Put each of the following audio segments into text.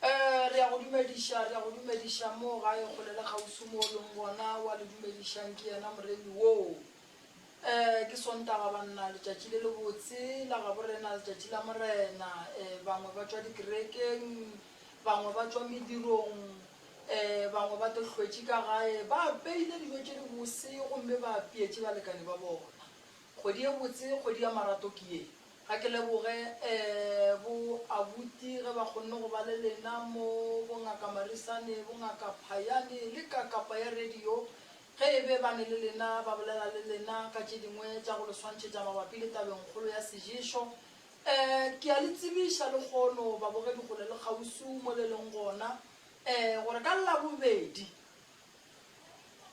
Ee, re a go dumediša, re a go dumediša moo gae kgole le kgauswi moo o leng gona, o a le dumedišang ke yena Moremi woo. Ee, ke Sontaga, banna, letšatši le lebotse la Gaborena, letšatši la Morena. Ee, bangwe ba tšwa dikerekeng, bangwe ba tšwa medirong, ee, bangwe ba tlo hlwetše ka gae, ba apeile dijo tše dibose gomme ba apeetše balekane ba bona. Kgwedi e botse, kgwedi ya marato ke ye. Ga ke leboge bo abuti ge ba kgonne go ba le lena mo, bo Ngaka Marisane, bo Ngaka Phayane le ka kapa ya radio ge e be ba ne le lena ba bolela le lena ka tše dingwe tša go le swantšhetša mabapi le tabengkgolo ya seješo. Um ke a le tsebiša lekgono babogedi kgole le kgausu mo le leng gona um gore ka Labobedi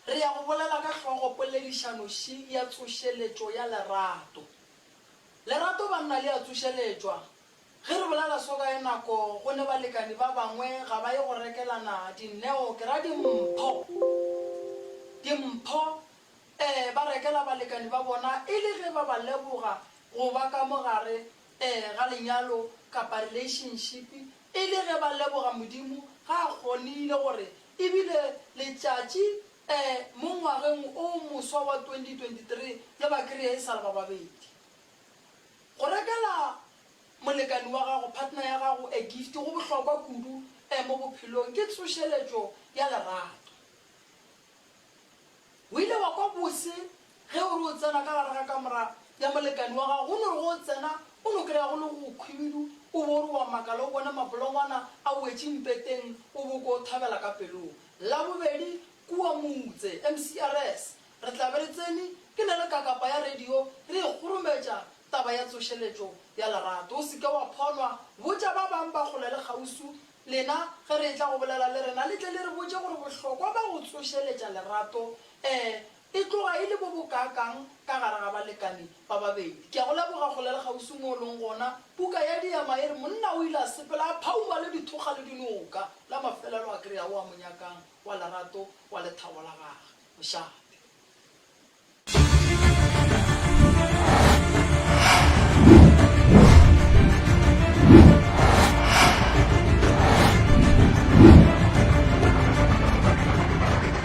re ya go bolela ka hlogopoledišanoši ya tsošeletšo ya lerato. Lerato banna le a tsošeletšwa. Ge re bolela seo ka ye nako go ne balekani ba bangwe ga ba ye go rekelana dinneo, ke ra dimpho. Dimpho, ee, ba rekela balekani ba bona e le ge ba ba leboga go ba ka mo gare, ee, ga lenyalo kapa relationship, e le ge ba leboga Modimo ga a kgonile gore e bile letšatši Ee, mo ngwageng o moswa wa 2023 le ba kry-a e sa le ba babedi. Go rekela molekani wa gago, partner ya gago, a gift go bohlokwa kudu e mo bophelong, ke tsošeletšo ya lerato. O ile wa kwa bose ge o re o tsena ka gare ga kamora ya molekani wa gago, go no re ge o tsena o no kry-a go le go khwibidu, o bo o re wa makala o bone mabolongwana a wetše mpeteng, o bo o kwa o thabela ka pelong. Labobedi kua Mutse, MCRS, re tla be re tsene ke na le kakapa ya radio re e kgorometša taba ya tsošeletšo ya lerato. O se ke wa phonwa, botša ba bang ba kgole le kgauswi. Lena ge re etla go bolela le rena le tle le re botše gore bohlokwa ba go tsošeletša lerato ee E tloga e le bo bokaakang ka gare ga balekane ba babedi. Ke a go leboga go le le kgauswi mo o leng gona. Puka ya Diema e re, Monna o ile a sepela a phauma le dithokga le dinoka. La mafelelo a kry-a o a mo nyakang wa lerato, wa lethabo la gage. Mošate.